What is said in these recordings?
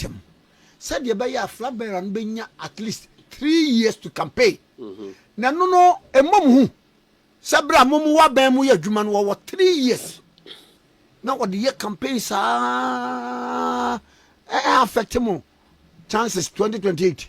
ntɛm sɛdeɛ ɛbɛyɛ a flag bearer no bɛnya at least three years to campaign mm-hmm. na ɛno no ɛmmom ho sɛ berɛ a mom wɔ abɛn mu yɛ adwuma no wɔwɔ three years na wɔde yɛ campaign saa ɛɛ affect mo chances 2028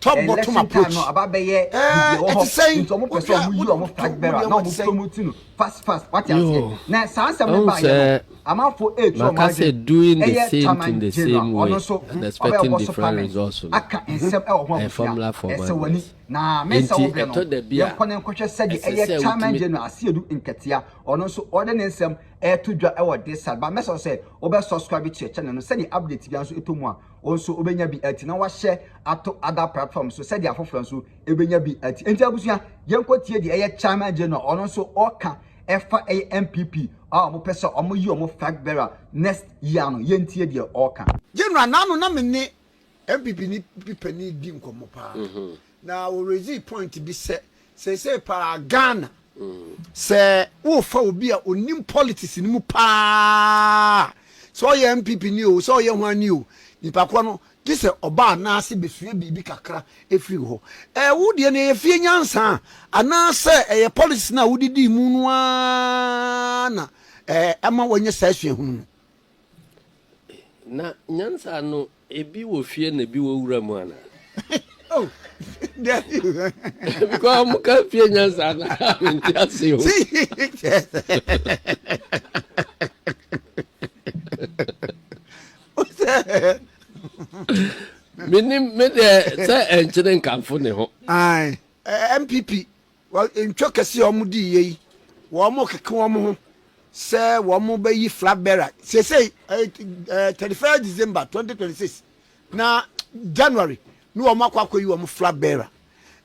Top bottom approach. Ɛte sɛn? Maka sɛ doing the same thing the same way and expecting different results no ɛyɛ formula for madness. Nti ɛtɔ da bi a ɛsɛ sɛ wotumi. wo nso wobɛnya bi ati na wahyɛ ato other platform so sɛdeɛ afoforɔ nso ɛbɛnya bi ati nti abusua yɛnkɔ tie deɛ ɛyɛ chairman general ɔno nso ɔka ɛfa ɛyɛ npp a wɔpɛ sɛ wɔn yi wɔn flag bearer next year no yɛntie deɛ ɔka. General n'ano na me ne npp ni bi panin di nkɔmmɔ paa na ɔrezi point bi sɛ Seesei paa Ghana sɛ worefa obi a onim politics no mu paa a, sɛ ɔyɛ NPP ni o, sɛ ɔyɛ ho ani o, nipa korɔ no gye sɛ ɔba anaase bɛsua biribi kakra ɛfiri wo hɔ. Ɛɛ wo deɛ no ɛyɛ fie nyansa a, anaasɛ ɛyɛ politics no a wodidii mu no ara na ɛma wanya saa suahunu no? Na nyansa no, ebi wɔ fie na ebi wɔ wura mu ana? Oh, dabi. Because ɔmo ka fie nyansa no a mente ase o. Menim me deɛ sɛ ɛnkyene nkamfo ne ho. Ae, MPP. Wɔ ntwa kɛse a wɔdiiɛ yi, wɔrekeke wɔn ho sɛ wɔbɛyi flag bearer seesei, thirty first December twenty twenty six na January na wɔn akɔ akɔyi wɔn flag bearer.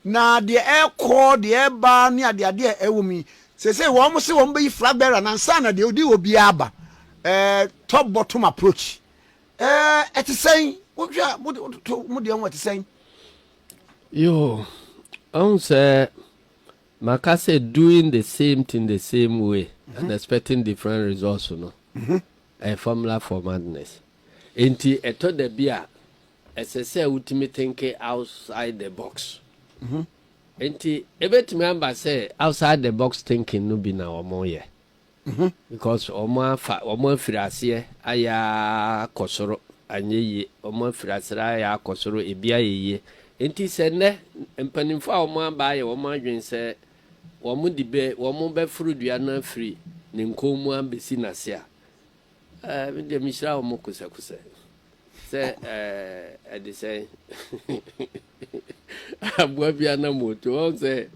Na deɛ ɛrekɔ, deɛ ɛreba ne adeade a ɛwɔ mu yi, seesei wɔn se wɔn bɛyi flag bearer no ansa na deɛ odi hɔ biara aba. Top bottom approach. Ɛte sɛn? Wohwɛ a, mo deɛ ho ɛte sɛn? Yoo, ɔhu sɛ maka sɛ doing the same thing the same way mm -hmm. and expecting different results no mhm. ɛyɛ formula for madness. Enti ɛtɔ da bi a ɛsɛ sɛ wotumi thinke outside the box. Mm -hmm. Enti ebetumi aba sɛ outside the box thinking no bi na wɔn yɛ. ho. Because wɔn afa wɔn afiri aseɛ ayɛ ara kɔ soro anyɛ yie wɔn afiri aseɛ ayɛ ara kɔ soro ebi ayɛ yie nti sɛ nnɛ mpaninfoɔ a wɔn aba ayɛ wɔn adwene sɛ wɔn de bɛ wɔn bɛforo dua no afiri ne nkɔn mu abɛsi n'ase a Eh, me deɛ mehyira wo mo kosɛkosɛ sɛ eh, ɛde sɛn aboa bi anam otu wɔn sɛ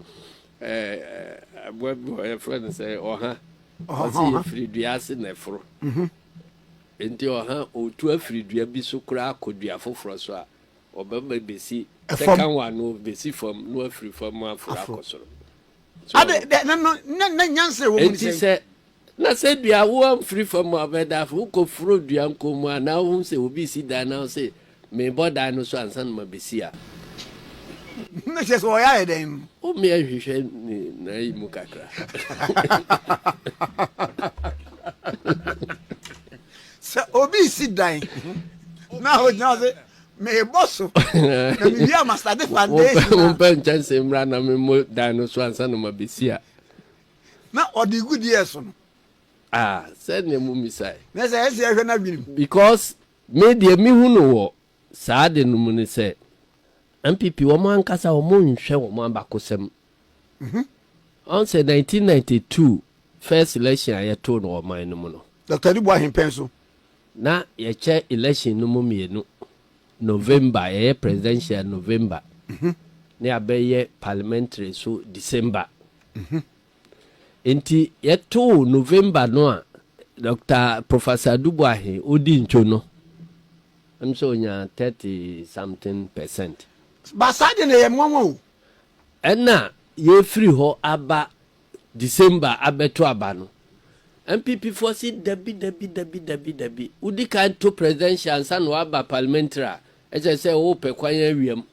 eh, aboa bi wɔ yɛfrɛ no sɛ ɔha ɔse yɛfiri dua ase na ɛforo mhm. nti ɔha otu afiri dua bi so koraa akɔ dua foforɔ so a ɔbɛma bɛsi sɛka wa no bɛsi fam na wafiri fam aforo akɔ soro nti sɛ Na sɛ dua wo amfiri fam a ɔbɛda afei wokɔ foro dua nkɔn mu a na wohu sɛ obi resi dan na wo se mebɔ dan no so ansa na mabɛsi a. Na kyerɛ sɛ ɔyɛ ayɛ dɛn? Wo mmea nhwehwɛ ne nan yi mu kakra. Sɛ obi resi dan na ɔgyina hɔ sɛ mebɔ so na mewie a masade foundation a. Mompɛ nkyɛnse mmra na memmɔ dan no so ansa na mabɛsi a. Na ɔde regu deɛ so no. Ah, sɛdeɛ mommisae. Na sɛ ɛsɛ yɛhwɛ n'adwene mu. Because me deɛ mehu no wɔ saa ade no mu ne sɛ, NPP wɔn ankasa wɔn nhwɛ wɔn abakɔsɛm. Ɔn sɛ 1992 first election a yɛtoo no wɔ ɔman no mu no. Doctor Adu Boahen pɛn so. Na yɛkyɛ election no mu mmienu. November, yɛyɛ presidential November, ne yɛabɛyɛ parliamentary nso December. Nti yɛtoo November no a Dɔkta Professor Duboahe odi ntwo no, ɛm sɛ onya 30 something percent. Ba saa deɛ na ɛyɛ mwanwa o. Ɛna yɛfiri hɔ aba December abɛto aba no, NPP foɔ se dabi dabi dabi dabi dabi, wodi kan to presidential ansa na waba parliamentary a, ɛkyerɛ sɛ wopɛ kwan awia mu.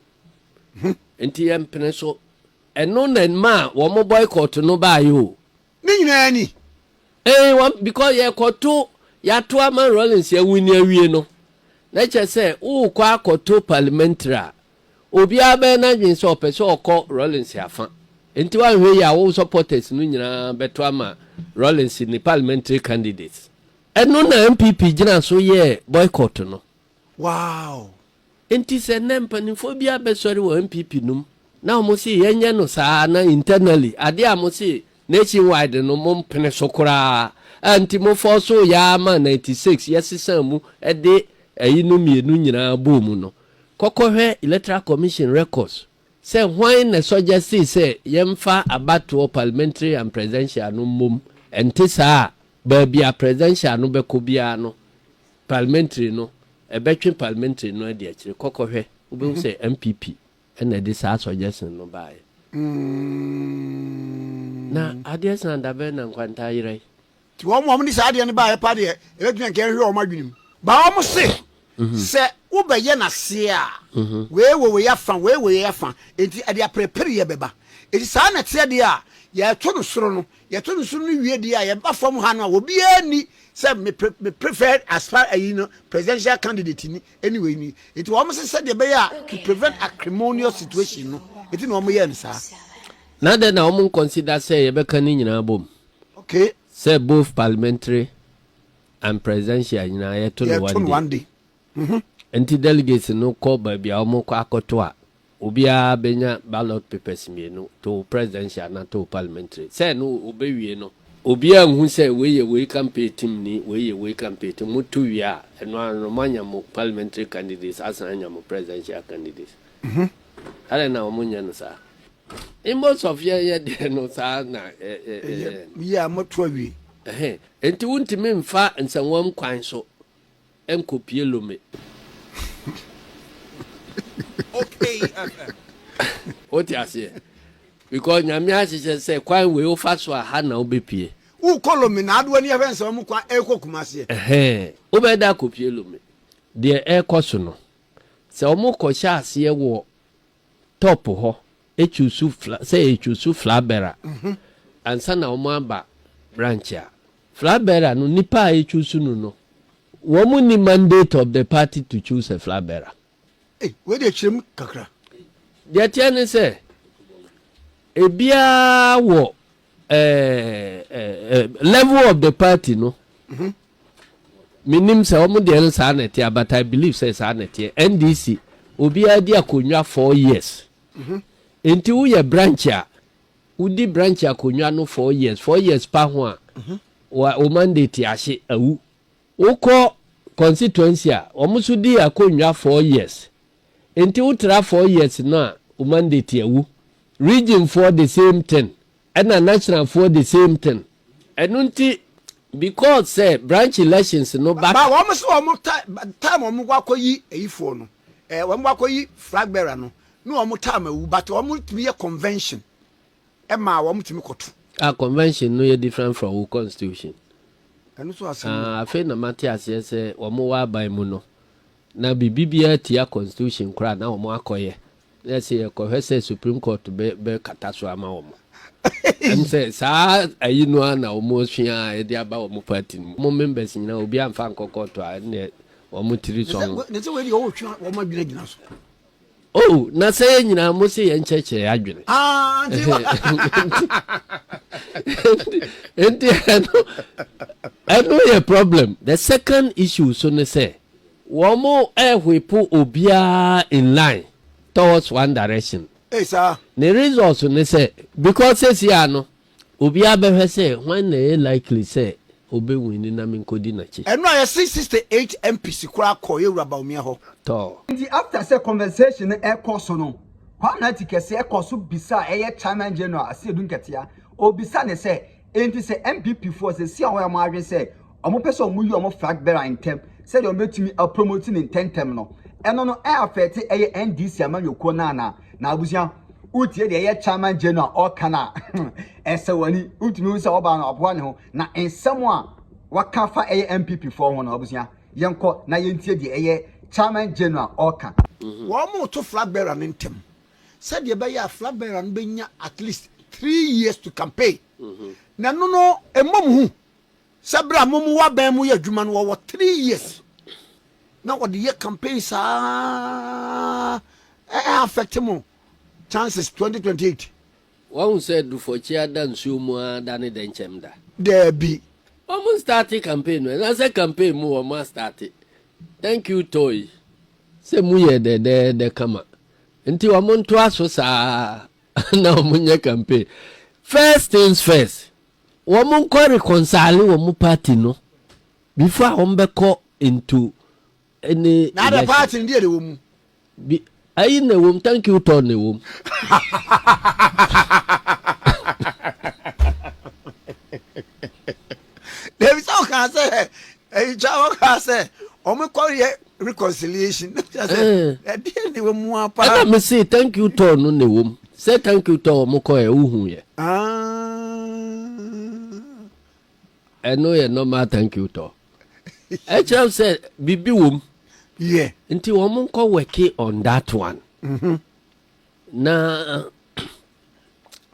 Nti yɛmpene so. Ɛno na ɛmaa wɔn boycott no baeɛ o. Ne nyinaa ni. Ee, wɔn, because yɛkɔto, yɛato ama Rawlings yɛwini awie no, na ɛkyerɛ sɛ worekɔ akɔto parliamentary a, Obiara bɛyɛ n'adwene sɛ ɔpɛ sɛ ɔkɔ Rawlings afã. Enti woanhwɛ yie a wo supporters no nyinaa bɛto ama Rawlings ne parliamentary candidates. Ɛno na NPP gyina so yɛɛ boycott no. Wow! Enti sɛ nnɛ mpaninfoɔ bi abɛsɔre wɔ NPP nom na wɔn se yɛnyɛ no saa na internally adeɛ a wɔn se nation wide no mo mpene so koraa a nti mo force yɛ ara ma ninety six yɛsesaa mu de ɛyinom mmienu nyinaa bɔɔ mu no Kɔ kɔhwɛ Electoral Commission records sɛ hwan na suggestee sɛ yɛmfa abatoɔ, parliamentary and presidential, no mmom. Ɛnte saa a, baabi a presidential no bɛkɔ biara no, parliamentary no, ɛbɛtwe parliamentary no adi akyire. Kɔ kɔhwɛ. Wobɛhu sɛ NPP na ɛde saa suggestion no baeɛ. Na adeɛ saa da bɛn na Nkwanta ayera yi? Nti wɔn a wɔde saa adeɛ no baeɛ pa deɛ, ɛbɛtumi anka nhwɛ wɔn adwene mu. Ba wɔn se, Sɛ wobɛyɛ no aseɛ a, wei wɔ wei afa, wei wɔ wei afa, enti ɛde aperepereɛ bɛba. Enti saa na ɛteɛ deɛ a yɛto no soro no. Yɛto no soro no wie deɛ a, yɛba fam ha no a, obiara nni sɛ me pre, me preferred aspir, ayi no, presidential candidate ni, ɛne wei ni. Enti wɔn se sɛdeɛ ɛbɛyɛ a to prevent acrimonious situation no, enti na wɔyɛɛ no saa. Na adɛn na wɔn nconsider sɛ yɛbɛka ne nyinaa bom? Okay. Sɛ both parliamentary and presidential nyinaa yɛto no one day. One day. Mm -hmm. Nti delegates no kɔ baabi a wɔkɔ akɔto a obiara bɛnya ballot papers mmienu to presidential na to parliamentary. Sɛ no obewie no obiara nhu sɛ wei yɛ wei campaign team ni wei yɛ wei campaign team. Moto wie a ɛno ara no moanya mo parliamentary candidates asan anya mo presidential candidates. Mm -hmm. Adɛn na wɔn nyɛ no saa? In most of yɛn yɛ deɛ no saa na ɛ ɛ ɛyɛ. Yɛ a moto awie. Ɛhɛ, enti wontumi nfa nsɛnwam kwan so nkɔ pie Lome. Wote aseɛ? Because Nyame ahyehyɛ sɛ kwan wei wofa so a ha na wobɛ pie. Wokɔ Lome na ade w'ani ahwɛ nsɛnwam kwan ɛrekɔ Kumasi ɛ. Ɛhɛ, wobɛda akɔ pie Lome. Deɛ ɛrekɔ so no Sɛ ɔmo kɔ hyɛ aseɛ wɔ top hɔ ɛchuusu fla sɛ ɛchuusu flag bearer ansa na ɔmo aba branch a flag bearer no nipa a ɛchuusu no no wɔn nni mandate of the party to choose a flag bearer. Ei wei deɛ kyerɛ mu kakra. Deɛ ɛteɛ ne sɛ ebiara wɔ level of the party no mhm. menim sɛ wɔn deɛ no saa na ɛteɛ but i believe sɛ saa na ɛteɛ ndc obiara di akonnwa four years mhm. nti woyɛ branch a wodi branch akonnwa no four years four years pa ho a mhm. wo mandate ahye awu wokɔ constituency a wɔn nso di akonnwa four years Nti wo tra four years no a wo mandate awu. Region foɔ the same thing ɛna national foɔ the same thing. Ɛno nti because sɛ branch elections no ba. Ba wɔn se wɔn ta by the time wɔn kɔ akɔ yi ɛyi foɔ no ɛɛ wɔn kɔ akɔ yi flag bearer no ne wɔn time awu but wɔn tumi yɛ convention ɛma wɔn tumi kɔ to. Ah convention no yɛ different from wo constitution. Ɛno nso asɛm o. Ah afei na mate aseɛ sɛ wɔn wɔ aban mu no Na biribi biara tia constitution koraa na wɔn akɔ yɛ na ɛsɛ yɛ kɔ hwɛ sɛ supreme court bɛ bɛ kata so ama wɔn ɛm sɛ saa ayi no ara na wɔn asua a ɛde aba wɔn party no mu wɔn members nyinaa obi anfa nkɔ court a ɛnneɛ wɔn tiri sɔn. Nese wei deɛ ɔretwe wɔn adwene agyina so. Oh, na sɛ yɛ nyinaa mo se yɛn kyɛkyɛ yɛ adwene. Ah, nti ba. Nti ɛno, ɛno yɛ problem. The second issue so ne sɛ, wɔn mo ɛhwepo obiara in line towards one direction. Hey, sir. Ne results ne sɛ, because sɛsi ano, Obiara bɛhwɛ sɛ hwan na ɛyɛ likely sɛ ɔbɛwini na menkɔdi n'akyi. Ɛno a yɛse sixty eight MPs koraa kɔɔ Yawura Bawumia hɔ. Tɔɔ. Nti after sɛ conversation no ɛkɔ so no, Kwamina ti kɛseɛ kɔ so bisa a ɛyɛ Chairman General Asiedu Nketia, ɔbisa no sɛ, Enti sɛ NPP foɔ sɛ si a wɔyɛ wɔn adwene sɛ wɔpɛ sɛ wɔyi wɔn flag bearer ntɛm sɛdeɛ wɔbɛtumi a promote no ntɛntɛm no, ɛno no ɛ affect ɛyɛ NDC amanyɔkuo no anaa? Na abusua, wotie deɛ ɛyɛ Chairman General ɔka no a, ɛsɛ w'ani, wotumi hu sɛ ɔbaa no aboa ne ho, na nsɛm a waka fa ɛyɛ NPP foɔ ho no abusua, yɛnkɔ na yɛntie deɛ ɛyɛ Chairman General ɔka. Wɔreto flag bearer no ntɛm sɛdeɛ ɛbɛyɛ a flag bearer no bɛnya at least three years to campaign, na ɛno no mmɔ mo hu Sɛ bere a mom wɔ aban mu yɛ adwuma no wɔwɔ three years na wɔde yɛ campaign saa ɛɛ affect mo chances twenty twenty eight. Wahu sɛ Dufɔkyea da nsuo mu ara da ne dɛnkyɛm da? Daabi. Wɔn starte campaign no ɛnasɛ campaign mu wɔn astarte thank you toi. Sɛ mu yɛ dɛdɛɛdɛ kama nti wɔn ntoa so saa na wɔn nyɛ campaign first things first Wɔn nkɔ rekɔnsaale wɔn party no before a wɔn bɛ kɔ into any election. Na adɛ party no deɛ na ɛwɔ mu. Bi ayi na ɛwɔ mu thank you tɔ na ɛwɔ mu. David sɛ ɔkaa sɛ ɛyitwa ɔkaa sɛ wɔn kɔ yɛ reconciliation ɛdeɛ ne wɔ mu a paa ɛna me se thank you tɔɔ no na ɛwɔ mu sɛ thank you tɔɔ wɔn kɔɛ wohu yɛ ɛno yɛ normal thank you tɔɔ ɛkyerɛ sɛ biribi wɔ mu yeah. nti wɔn nkɔ wɛke on that one mm -hmm. na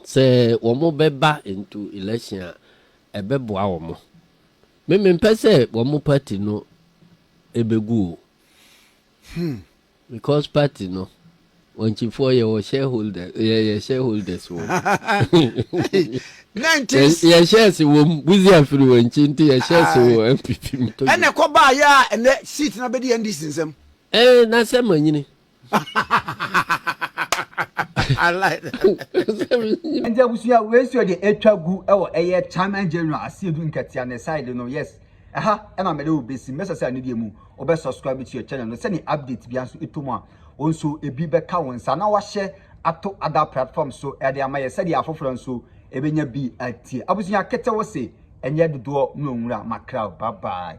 sɛ wɔn bɛba into election a ɛbɛboa wɔn. Me mempɛ sɛ wɔn mo party no ɛbɛgu o hmm. because party no wɔnkyifoɔ yɛwɔ shareholders yɛyɛ shareholders wɔ yɛ shares wɔ mu buzi afiri wɔn nkyi nti yɛ shares wɔ npp mu. ɛnna ɛkɔ baa yɛ a ɛnɛ seat na bɛ di ndc nsam. ɛɛ na sɛ manyini. I like that. Nti abusua wei so de atwa gu wɔ ɛyɛ Chairman General Asiedu Nkatia ne side no yes. Ɛha ɛna mede wo besi mɛsɛ sɛ ne deɛ mu wobɛ subscribe to your channel no sɛne update bia nso ɛtɔ mu a wo nso ebi bɛka wo nsa na wahyɛ ato other platform so ɛde ama yɛ sɛdeɛ afoforɔ nso ɛbɛnya bi atie abusua kete wo se ɛnyɛ dodoɔ na ɔnwura makraw bye bye.